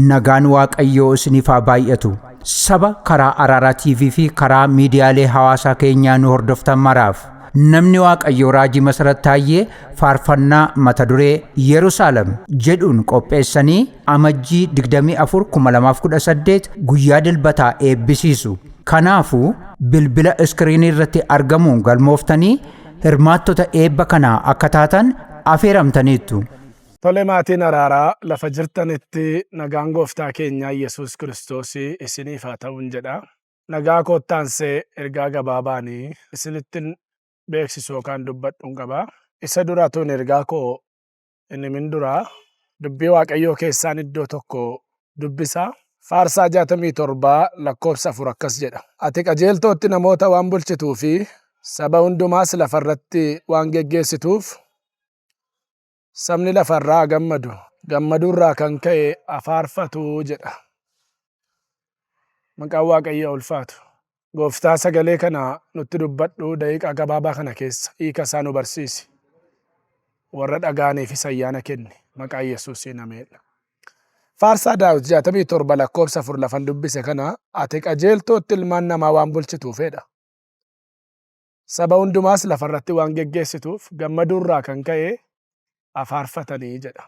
Nagaan Waaqayyoo isiniif haa baay'atu. Saba karaa Araaraa TV fi karaa miidiyaalee hawaasaa keenyaa nu hordoftan maraaf. Namni Waaqayyoo Raajii Masarat Taayyee faarfannaa mata duree Yerusaalem jedhuun qopheessanii Amajjii 24/2018 guyyaa dilbataa eebbisiisu. Kanaafuu bilbila iskiriinii irratti argamuun galmooftanii hirmaattota eebba kanaa akka taatan afeeramtaniittu. Tole maatiin araaraa lafa jirtanitti nagaan gooftaa keenyaa Yesuus Kiristoosii isiniif haa ta'uun jedha. Nagaa kootti aansee ergaa gabaabaan isinittin beeksisu yookaan dubbadhun qaba. Isa dura tuun ergaa koo hin himin dura dubbii Waaqayyoo keessaan iddoo tokko dubbisa. Faarsaa 67 lakkoofsa 4 akkas jedha. Ati qajeeltootti namoota waan bulchituu fi saba hundumaas lafarratti waan geggeessituuf Sabni lafa irraa haa gammadu, gammaduu irraa kan ka'e haa faarfatu jedha. Maqaan Waaqayyoo haa ulfaatu. Gooftaa sagalee kana nutti dubbadhu daqiiqaa gabaabaa kana keessa hiika isaa nu barsiisi. Warra dhaga'aniifis ayyaana kenni. Maqaa Yesuusiin ameen. Faarsaa Daawit 67 lakkoofsa 4 lafan dubbise kana ati qajeeltootti ilmaan namaa waan bulchituufedha. Saba hundumaas lafa irratti waan geggeessituuf gammaduu irraa kan ka'e haa faarfatanii jedha.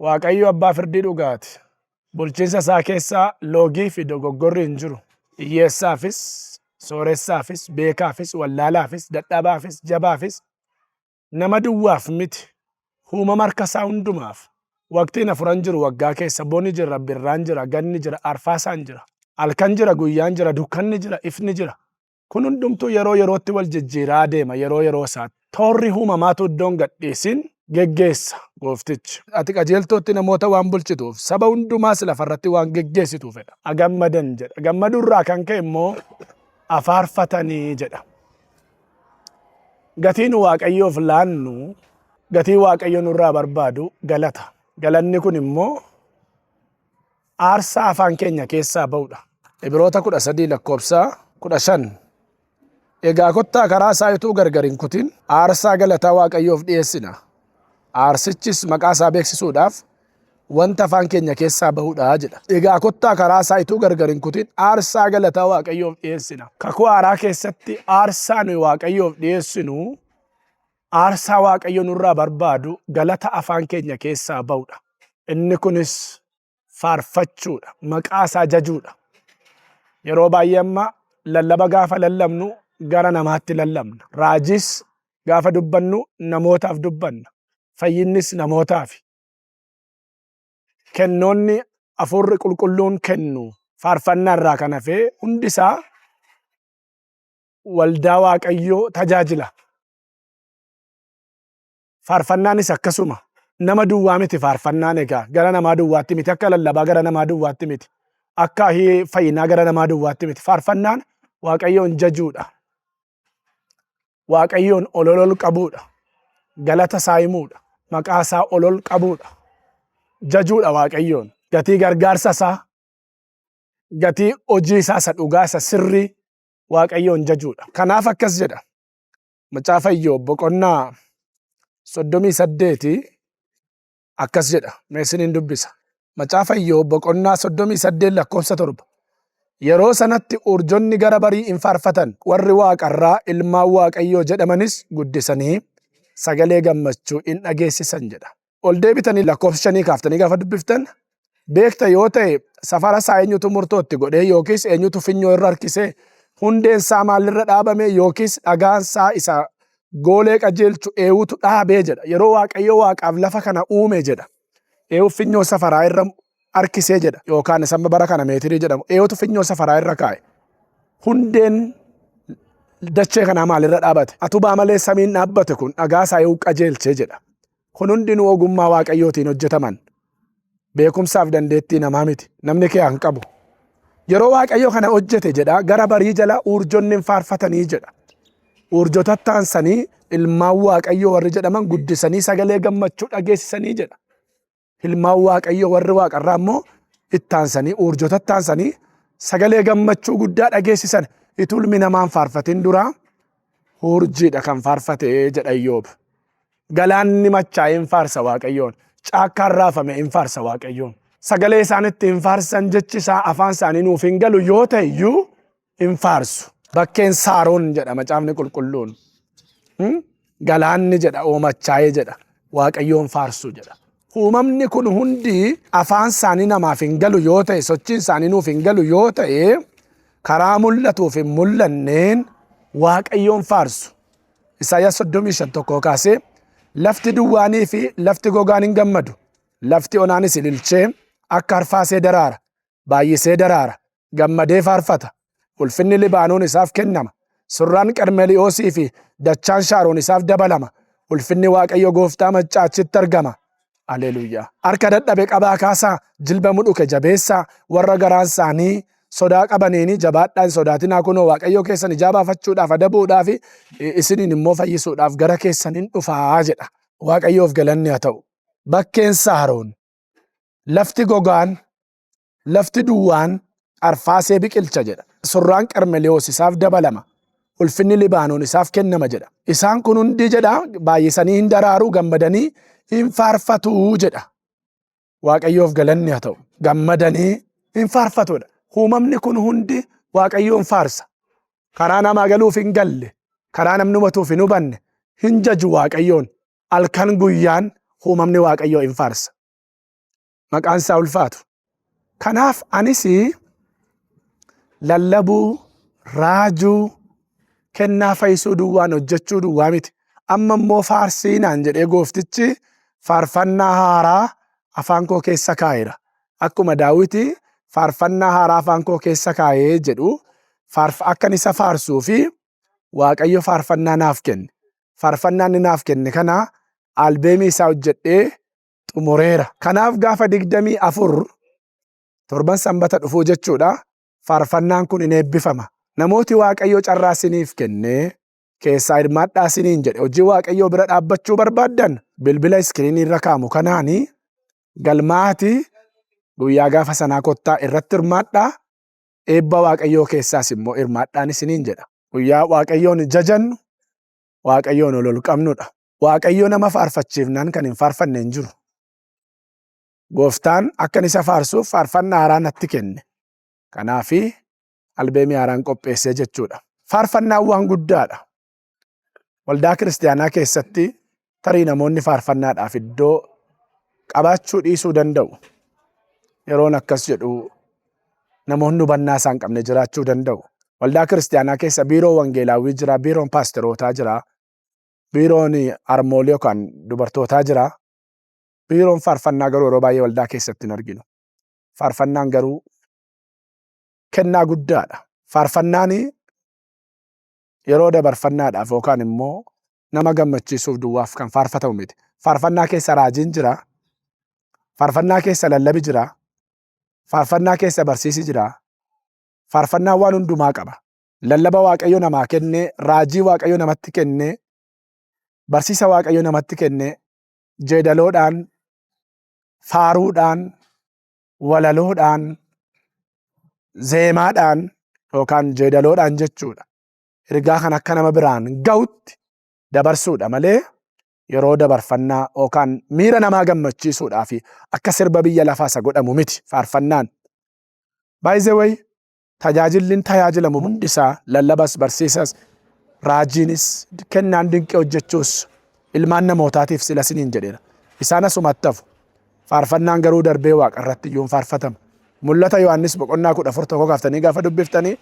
Waaqayyo abbaa firdii dhugaati. Bulchiinsa isaa keessa loogii fi dogoggorri hin jiru. Hiyyeessaafis, sooressaafis, beekaafis, wallaalaafis, dadhabaafis, jabaafis nama duwwaaf miti, huumama harka isaa hundumaaf. Waqtiin afuran jiru waggaa keessa, boni jira, birraan jira, ganni jira, arfaasaan jira. Halkan jira, guyyaan jira, dukkanni jira, ifni jira. Kun hundumtuu yeroo yerootti wal jijjiiraa adeema, yeroo yeroo isaatti. Toorri huumamaatu uddoo hin gadhiisin geggeessa Gooftichi. Ati qajeeltootti namoota waan bulchituuf, saba hundumaas lafa irratti waan geggeessituu fedha. a gammadan jedha. Gammaduu irraa kan ka'e immoo a faarfatanii jedha. Gatiin Waaqayyoof laannu, gatii Waaqayyo nurraa barbaadu galata. Galanni kun immoo aarsaa afaan keenya keessaa ba'udha. Ibiroota 13 lakkoofsa 15. Egaa kottaa karaa isaa utuu gargar hin kutin aarsaa galataa Waaqayyoof dhiyeessina. Aarsichis maqaa isaa beeksisuudhaaf wanta afaan keenya keessaa ba'udha jedha. Egaa kottaa karaa isaa ituu gargar hin kutin aarsaa galataa Waaqayyoof dhiyeessina. Kakuu haaraa keessatti aarsaa nuyi Waaqayyoof dhiyeessinu aarsaa Waaqayyo nurraa barbaadu galata afaan keenya keessaa ba'udha. Inni kunis faarfachuudha, maqaa isaa jajuudha. Yeroo baay'ee amma lallaba gaafa lallabnu gara namaatti lallabna. Raajiis gaafa dubbannu namootaaf dubbanna. Fayyinnis namootaafi. kennoonni hafuurri qulqulluun kennu faarfannaa irraa kan hafe hundi isaa waldaa waaqayyoo tajaajila. Faarfannaanis akkasuma nama duwwaa miti faarfannaan egaa gara namaa duwwaatti miti akka lallabaa gara namaa duwwaatti miti akka fayyinaa gara namaa duwwaatti miti faarfannaan waaqayyoon jajuudha. Waaqayyoon ololol qabuudha. Galata isaa himuudha. Maqaa isaa olol qabuudha. Jajuudha Waaqayyoon. Gatii gargaarsa isaa, gatii hojii isaa isa dhugaa isa sirrii Waaqayyoon jajuudha. Kanaaf akkas jedha. Macaafa Iyyoob boqonnaa soddomii saddeeti akkas jedha meesiniin dubbisa macaafa iyyoob boqonnaa soddomii saddeet lakkoofsa torba yeroo sanatti urjonni gara barii in faarfatan warri waaqarraa ilmaan waaqayyoo jedhamanis guddisanii sagalee gammachuu in dhageessisan jedha ol deebitanii lakkoofsa shanii kaaftanii gaafa dubbiftan beekta yoo ta'e safara isaa eenyutu murtoo itti godhee yookiis eenyutu finyoo irra harkisee hundeen isaa maalirra dhaabame yookiis dhagaan isaa isa goolee qajeelchu eewutu dhaabee jedha. Yeroo Waaqayyo waaqaaf lafa kana uume jedha. Eewu finyoo safaraa irra harkisee jedha yookaan isa amma bara kana meetirii jedhamu eewutu finyoo safaraa irra kaa'e. Hundeen dachee kanaa maalirra dhaabate? Atubaa malee samiin dhaabbate kun dhagaa isaa eewu qajeelchee jedha. Kun hundinuu ogummaa Waaqayyootiin hojjetaman. Beekumsaaf dandeettii namaa miti. Namni kiyaa hin qabu. Yeroo Waaqayyo kana hojjete jedha gara barii jala urjonni hin faarfatanii jedha. Urjotatti aansanii ilmaan Waaqayyoo warri jedhaman guddisanii sagalee gammachuu dhageessisanii jedha. Ilmaan Waaqayyoo warri waaqarraa immoo itti aansanii urjotatti aansanii sagalee gammachuu guddaa dhageessisan itulmi namaan faarfatin duraa urjiidha kan faarfate jedha Iyyoob. Galaanni machaa'e in faarsa Waaqayyoon, caakkaan raafame in faarsa Waaqayyoon. Sagalee isaan itti hin faarsan jechi isaa afaan isaanii nuuf hin galu yoo ta'e iyyuu hin faarsu. Bakkeen Saaroon jedha macaafni qulqulluun. Galaanni jedha oomachaa'ee jedha Waaqayyoon faarsu jedha. Uumamni kun hundi afaan isaanii namaaf hin galu yoo ta'e sochiin isaanii nuuf hin galu yoo ta'e karaa mul'atuuf hin mul'anneen Waaqayyoon faarsu. Isaayyaas 35 tokkoo kaasee lafti duwwaanii fi lafti gogaan hin gammadu lafti onaanis ililchee akka harfaasee daraara baay'isee daraara gammadee faarfata ulfinni libaanoon isaaf kennama surraan qarmeli'oosii fi dachaan shaaroon isaaf dabalama ulfinni waaqayyo gooftaa maccaachitti argama Alleluyaa. Harka dadhabe qabaa kaasaa, jilba mudhuke jabeessaa, warra garaan isaanii sodaa qabaniini jabaadhaa hin sodaatinaa kunoo Waaqayyoo keessan ijaa baafachuudhaaf adabuudhaaf isiniin immoo fayyisuudhaaf gara keessan in dhufaa jedha. Waaqayyoof galanni haa ta'u. Bakkeen Saaroon, lafti gogaan, Lafti duwwaan arfaasee biqilcha jedha. Surraan Qarmeliyoos isaaf dabalama. Ulfinni Libaanoon isaaf kennama jedha. Isaan kun hundi jedha baay'isanii in daraaru, gammadanii in faarfatu jedha. Waaqayyoof galanni haa ta'u. Gammadanii in faarfatu jedha. Uumamni kun hundi Waaqayyoon faarsa. Karaa namaa galuuf hin galle, karaa namni hubatuuf hin hubanne, hin jaju Waaqayyoon. Halkan guyyaan uumamni Waaqayyoo in faarsa. maqaan isaa ulfaatu. Kanaaf anis lallabuu, raajuu, kennaa fayyisuu duwwaan hojjechuu duwwaa miti. Amma immoo faarsii naan jedhee gooftichi faarfannaa haaraa afaan koo keessa kaa'eera. Akkuma daawwiti faarfannaa haaraa afaan koo keessa kaa'ee jedhu akkan isa faarsuu fi waaqayyo faarfannaa naaf kenne. Faarfannaa inni naaf kenne kana albeemii isaa hojjedhee xumureera. Kanaaf gaafa digdamii afur torban sanbata dhufuu jechuudha. Faarfannaan kun in eebbifama. Namooti Waaqayyo carraa siniif kennee keessaa hirmaadhaa siniin jedhe hojii Waaqayyoo bira dhaabbachuu barbaaddan bilbila iskiriinii irra kaamu kanaani galmaa'aati guyyaa gaafa sanaa kottaa irratti hirmaadhaa eebba Waaqayyoo keessaas immoo hirmaadhaan isiniin jedha. Guyyaa Waaqayyoon jajannu Waaqayyoon ol ol qabnudha. Waaqayyo nama faarfachiifnaan kan hin faarfanne hin jiru. Gooftaan akkan isa faarsuuf faarfannaa haaraa natti kenne. Kanaafi albeemii haaraan qopheessee jechuudha. Faarfannaan waan guddaadha. Waldaa kiristaanaa keessatti tarii namoonni faarfannaadhaaf iddoo qabaachuu dhiisuu danda'u. Yeroon akkas jedhu namoonni hubannaa isaan qabne jiraachuu danda'u. Waldaa kiristaanaa keessa biiroo wangeelaawwii jira, biiroon paastorootaa jira. biiroon harmoolii yookaan dubartootaa jira. Biiroon faarfannaa garuu yeroo baay'ee waldaa keessatti hin arginu. Faarfannaan garuu kennaa guddaadha. Faarfannaan yeroo dabarfannaadhaaf yookaan immoo nama gammachiisuuf duwwaaf kan faarfatamu miti. Faarfannaa keessa raajiin jira. Faarfannaa keessa lallabi jira. Faarfannaa keessa barsiisi jira. Faarfannaan waan hundumaa qaba. lallaba Waaqayyo namaa kenne, raajii Waaqayyo namatti kenne, barsiisa Waaqayyo namatti kenne, jeedaloodhaan, faaruudhaan, walaloodhaan, zeemaadhaan yookaan jeedaloodhaan jechuudha. Ergaa kan akka nama biraan ga'utti dabarsuudha malee yeroo dabarfannaa yookaan miira namaa gammachiisuudhaa fi akka sirba biyya lafaa isa godhamu miti faarfannaan. By the way, tajaajilli tajaajilamu hundi isaa lallabas, barsiisas, raajiinis, kennaan dinqii hojjechuus ilmaan namootaatiif sila siniin jedheera. Isaan asumatti hafu. Faarfannaan garuu darbee waaqa irratti iyyuu faarfatama. Mul'ata Yohaannis boqonnaa kudha afur tokko kaaftanii gaafa dubbiftanii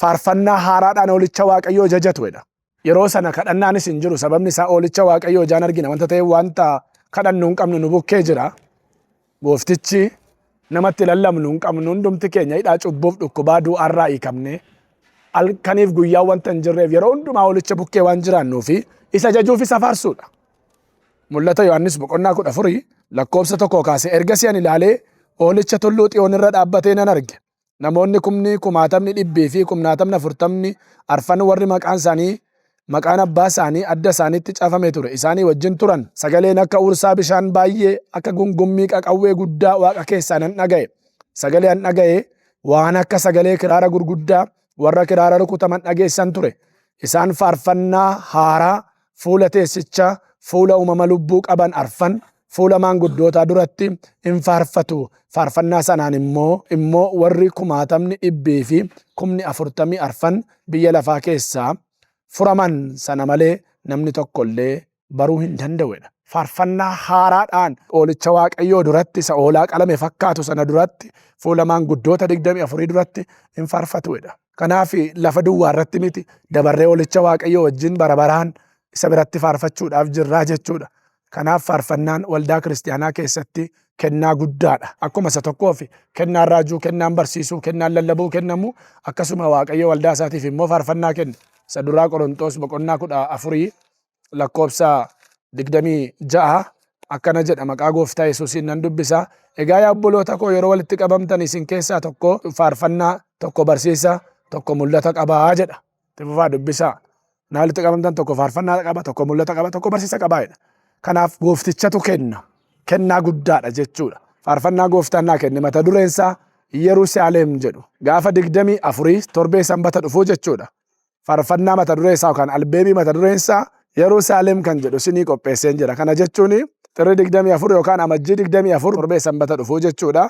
faarfannaa haaraadhaan olicha waaqayyoo jajatu jedha. Yeroo sana kadhannaanis hin jiru sababni isaa oolicha waaqayyoo ijaan argina wanta ta'eef wanta kadhannu hin qabnu nu bukkee jira. Gooftichi namatti lallabnu hin qabnu hundumti keenya hidhaa cubbuuf dhukkubaa du'aarraa hiikamne halkaniif guyyaa wanta hin jirreef yeroo hundumaa oolicha bukkee waan jiraannuu fi isa jajuuf isa faarsuudha. Mul'ata Yohaannis boqonnaa kudha afurii lakkoofsa tokkoo kaasee ergasii ani ilaalee oolicha tulluu xiyoon irra dhaabbatee nan arge. namoonni kumni kumaatamni dhibbii fi kumnaatamni afurtamni arfan warri maqaan isaanii maqaan abbaa isaanii adda isaaniitti cafame ture isaanii wajjin turan. Sagaleen akka huursaa bishaan baay'ee, akka gungummii qaqawwee guddaa waaqa keessaa nan dhaga'e. Sagalee an dhaga'e waan akka sagalee kiraara gurguddaa warra kiraara rukutaman dhageessan ture. Isaan faarfannaa haaraa fuula teessichaa, fuula uumama lubbuu qaban arfan, fuula maanguddootaa duratti in faarfatu, faarfannaa sanaan immoo immoo warri kumaatamni dhibbii fi kumni afurtamii arfan biyya lafaa keessaa furaman sana malee namni tokko illee baruu hin danda'u dha. Faarfannaa haaraadhaan Hoolicha Waaqayyoo duratti isa hoolaa qalame fakkaatu sana duratti fuula maanguddoota digdamii afurii duratti in faarfatu dha. Kanaaf lafa duwwaa irratti miti dabarree olicha Waaqayyoo wajjin bara baraan isa biratti faarfachuudhaaf jirraa jechuudha. Kanaaf faarfannaan waldaa kiristiyaanaa keessatti kennaa guddaadha. Akkuma isa tokkoof kennaan raajuu, kennaan barsiisuu, kennaan lallabuu kennamu akkasuma Waaqayyo waldaa isaatiif immoo faarfannaa kenna. Isa duraa Qoronxoos boqonnaa kudha afurii lakkoobsa 26 akkana jedha maqaa gooftaa Yesuusiin nan dubbisa. Egaa yaa obboloota koo yeroo walitti qabamtan isin keessaa tokko faarfannaa tokko barsiisa tokko mul'ata qabaa jedha. Itti fufaa dubbisaa. Naa walitti qabamtan tokko faarfannaa qaba tokko mul'ata qaba tokko barsiisa qabaa jedha. Kanaaf gooftichatu kenna. Kennaa guddaadha jechuudha. Faarfannaa gooftaan naa kenne mata dureen isaa Yerusaalem jedhu gaafa digdamii afurii torbee sanbata dhufuu jechuudha. farfannaa mata duree isaa yookaan albeemii mata dureen isaa Yerusaalem kan jedhu sinii qopheesseen jira. Kana jechuun xirri 24 yookaan amajjii 24 torbee sanbata dhufuu jechuudha.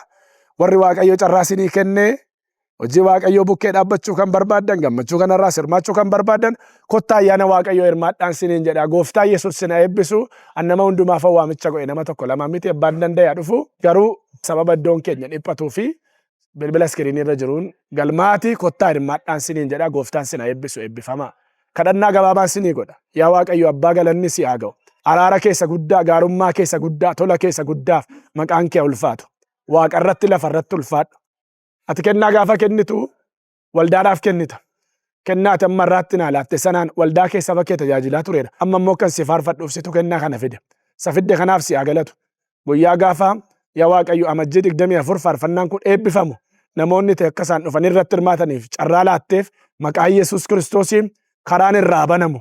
Warri Waaqayyo carraa sinii kennee hojii Waaqayyoo bukkee dhaabbachuu kan barbaadan gammachuu kanarraa sirmaachuu kan barbaadan kottaa ayyaana Waaqayyoo hirmaadhaan siniin jedha. Gooftaa Yesuus sina eebbisu an nama hundumaaf waamicha godhe nama tokko lama miti abbaan danda'a dhufu garuu sababa iddoon keenya dhiphatuu fi bilbila iskiriinii irra jiruun galmaa'aatii kottaa hirmaadhaan siniin jedha gooftaan sin haa eebbisu eebbifamaa. Kadhannaa gabaabaan sinii godha. Yaa Waaqayyo abbaa galanni si haa ga'u. Araara kee isa guddaa, gaarummaa kee isa guddaa, tola kee isa guddaaf maqaan kee haa ulfaatu. Waaqa irratti lafa irratti ulfaadhu. Ati kennaa gaafa kennitu waldaadhaaf kennita. Kennaa ati amma irraatti naa laatte sanaan waldaa kee saba kee tajaajilaa tureera. Amma immoo kan si faarfadhuuf situ kennaa kana fide. Isa fidde kanaaf si haa galatu. Guyyaa gaafaa yaa Waaqayyo amajjii 24 faarfannaan kun eebbifamu namoonni ta'e akka isaan dhufanii irratti hirmaataniif carraa laatteef maqaa Yesuus Kiristoosiin karaan irraa banamu.